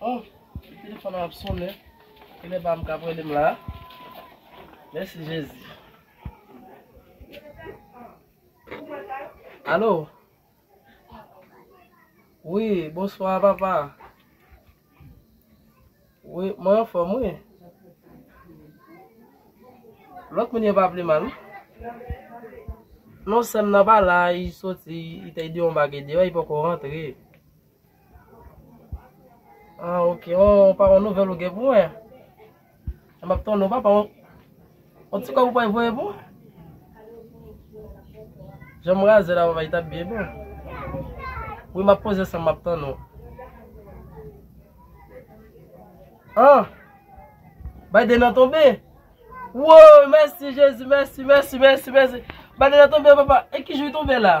Oh telefon nan ap sonnen kilè pam kap relem la mèsi jezi alo wi bonswa papa wi mwen anfòm wi lòt moun yo pa ple mal non sèm nan pa la li soti li te di yon bagay deyò li poko rantre Ah ok, on pa on nouvel ou gen pou mwen. M ap ton nou papa, on, on ti kòb ou pa voye pou mwen. Jan m raze la papa, li tap byen bon. Wi m ap poze san m ap ton nou. Ah! Biden an tonbe. Wouy, mèsi Jezi, mèsi, mèsi, mèsi, mèsi. Biden an tonbe papa, e ki jou li tonbe la?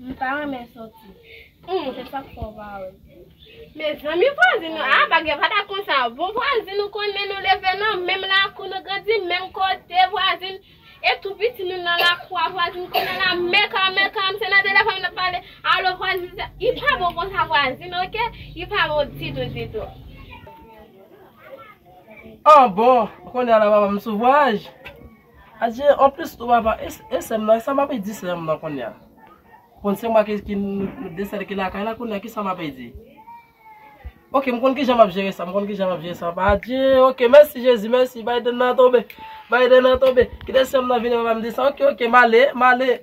M ta renmen soti. Humm se sak fè w pa wèm. Mezanmi vwazin nou ah bagay pa ta konsa bon vwazin nou konnen nou leve nan menm lakou nou grandi menm kote vwazin e tou piti nou nan lakou a vwazin konnen la meka meka se nan telefòn nou tap pale alo vwazin sa li pa bon konsa vwazin ok li pa bon ditou ditou. An bon, kounye a la papa m sou vwaj. Adje an plis tou papa e sèm nan kisa map di sèm nan kounya konn se mwen ki nou de sèl ki lakay la kounya kisa map di ok m konn kijan map jere sa m konn kijan map jere sa papa adje ok mèsi jezi mèsi Biden nan tonbe Biden nan tonbe kite sèm nan vini papa m di sa ok ok male male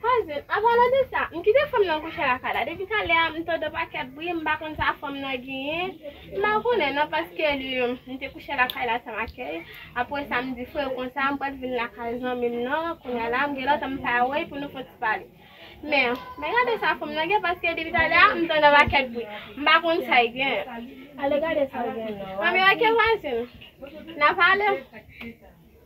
Pase, anpalan de sa, m kite fanm nan kouche la kay la. Depi talè a, m tande pakèt bri, m pa konn sa fanm nan genyen. M pa konnen non, paske li, m te kouche la kay la san akèy. Apre sa, m di frè yo konsa, m pral vin la kay zanmi m nan, kounye a la, m gen lontan m pa wè l, pou nou fon ti pale. Men, men gade sa fanm nan gen, paske depi talè a, m tande pakèt bri. M pa konn sa l gen. Ale gade sa l gen non. Anmeyè, ke vwazen? Nan pale?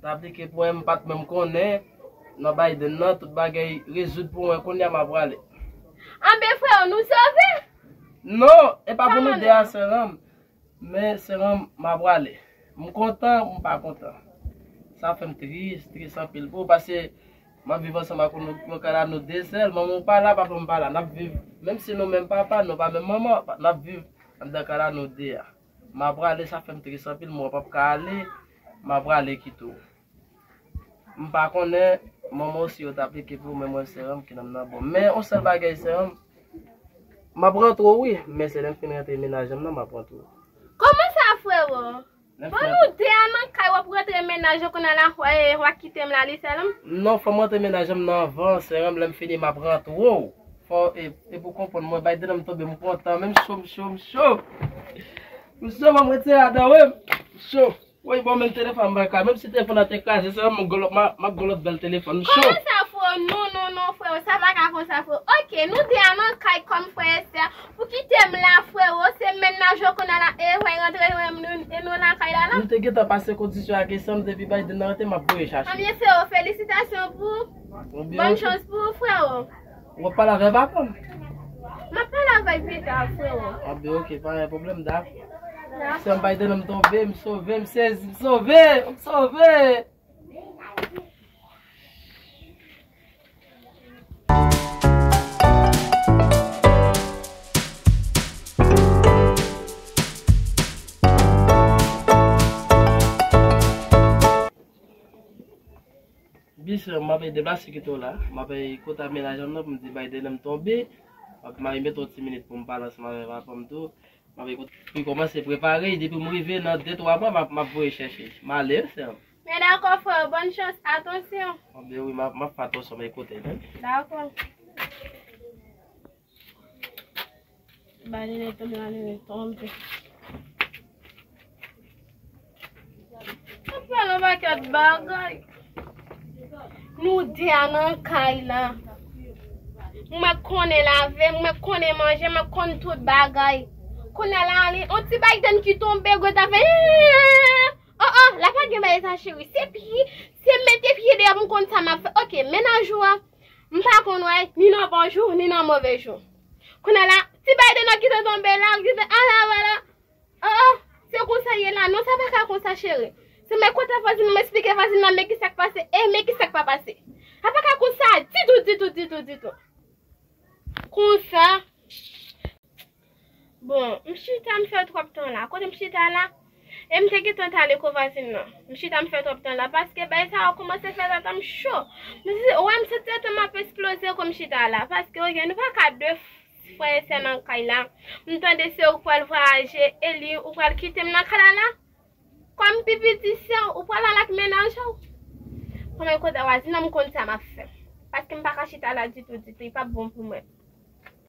Sa aplike pou mwen m pat menm konnen nan Biden nan tout bagay rezoud pou mwen kounya ma prale. Anben freo nou sove? Non epa pou nou 2 a seranm men seranm ma prale m kontan m pa kontan sa fèm tris tris anpil pou ou pase map viv ansanm ak ou nou ka la nou 2 sèl manmanw pa la papanm pa la nap viv menm si nou menm papa nou pa menm manman nap viv andan ka la nou 2 a. Ma prale sa fèm tris anpil m wè pap ka ale ma prale kite w m pa konnen manman w si yo t aplike pou w men mwen sè anm kinanm nan bon men on sèl bagay sè anm map rantre w wi men se lèm fin rantre mennaj anm nan map rantre w. Koman sa frero? Bon nou 2 a nan kay wap rantre mennaj ou konnya la wa kitem la li sèl anm? Non fòm rantre mennaj anm nan avan sè anm lèm fini map rantre w. Fò e pou konprann mwen bay dedan m tonbe m kontan men m cho m cho m cho m cho banm retire ladan wi m cho woy bon menm telefòn m paka menm si telefòn nan te kraze se m map gon lòt bèl telefòn m cho. Kòman sa freo non non non freo sa paka konsa freo ok nou 2 a nan kay kòm frè estè ou kite m la freo se menn nan jwe kounya la eehwey rantre jwenn m e nou nan kay la la. Nou te gentan pase kondisyon ak esam depi bay dedan rantre map voye chache. Anbyen freo felisitasyon pou ou bonne chance pou ou freo. Wap pale avè Vapò? Map pale avèl pita freo. Ah ben ok pa gen pwoblèm dak. Sèm bay de non m tonbe, m sove, m sezi, m sove, m sove! Byen sè map ede basi kite w la map eye kota menaj an nan pou m di bay dènè m tonbe map marie mete yon ti minit pou m pale ansanm avè papa m tou map eye kota li komanse prepare y depi m rive nan de twa mwa map map voye chèche l m ale wi sè m. Men dakò frè m bòn chans atansyon. Map eye wi map fè atansyon m eye kote l menm. Dakò. Baline tonbe baline tonbe. Mwen pral an paket bagay. Nou de a nan kay la. Mwen konnen lave, mwen konnen manje, mwen konnen tout bagay. Konnen la ale, on ti bay den ki tonbe, gwe ta fe. Oh oh, la pa gen bay sa cheri. Se pi, se mete pi de a mwen konnen sa ma fe. Ok, menaj ou a. M pa konn wè ni nan bon jou ni nan move jou. Kounye la, ti bay de nan ki te tonbe la, li di, A la wala! O o! Se konsa ye la? Non, sa pa ka konsa, cheri. Se men kote vwazin nan m esplike vwazin nan men ki sa k pase e men ki sa k pa pase. Sa pa ka konsa ditou, ditou, ditou, ditou. Konsa, Bon, m chita m fè twòp tan la. Kote m chita la? E m te gentan t ale ko vwazin nan. M chita m fè twòp tan la paske bagay sa yo koumanse fè tete m cho. M di, wè m santi tete m ap esploze kou m chita la. Paske oke, nou pa ka de frè e sè nan kay la. M tande se ou k pral vwayaje, Eli, ou pral kite m nan kay la la? Kòm m pi piti sè w, ou pral al ak mennaj ou? Kòman e kote vwazin nan m konn sa m ap fè. Paske m pa ka chita la ditou ditou, li p ap bon pou mwen.